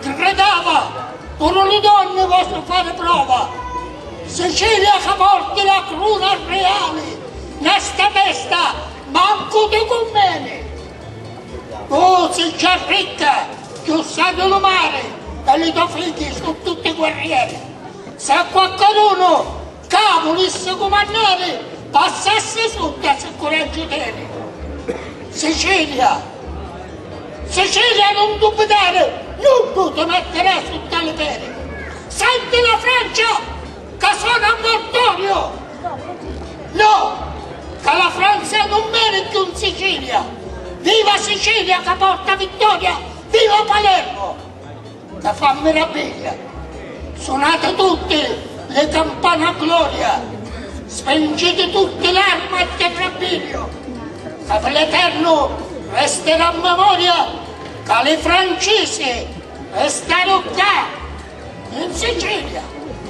Chi credava, puru lu donni vostru fari prova, Sicilia ca porti la cruna riali, na sta mesta mancu ti cummeni. Tu si già ricca, chiussà di lu mari, e li to figghi su tutti guerrieri. S'è quacchedunu Ca vulissi cumannari, passassi sutta si curaggiu teni. Sicilia, Sicilia nun dubitari, nuddu ti mettirà sutta li pedi. Senti la Francia ca sona a mortoriu, no, ca la Franza nun veni cchiù 'n Sicilia. Viva Sicilia ca porta vittoria, viva Palermo. Ca fa mirabbiglia. Sunati tutti li campani a gloria, spingiti tutti l'armi a tirrabbìriu, ca pi l'eternu resterà memoria ca li francisi restaru ccà in Sicilia.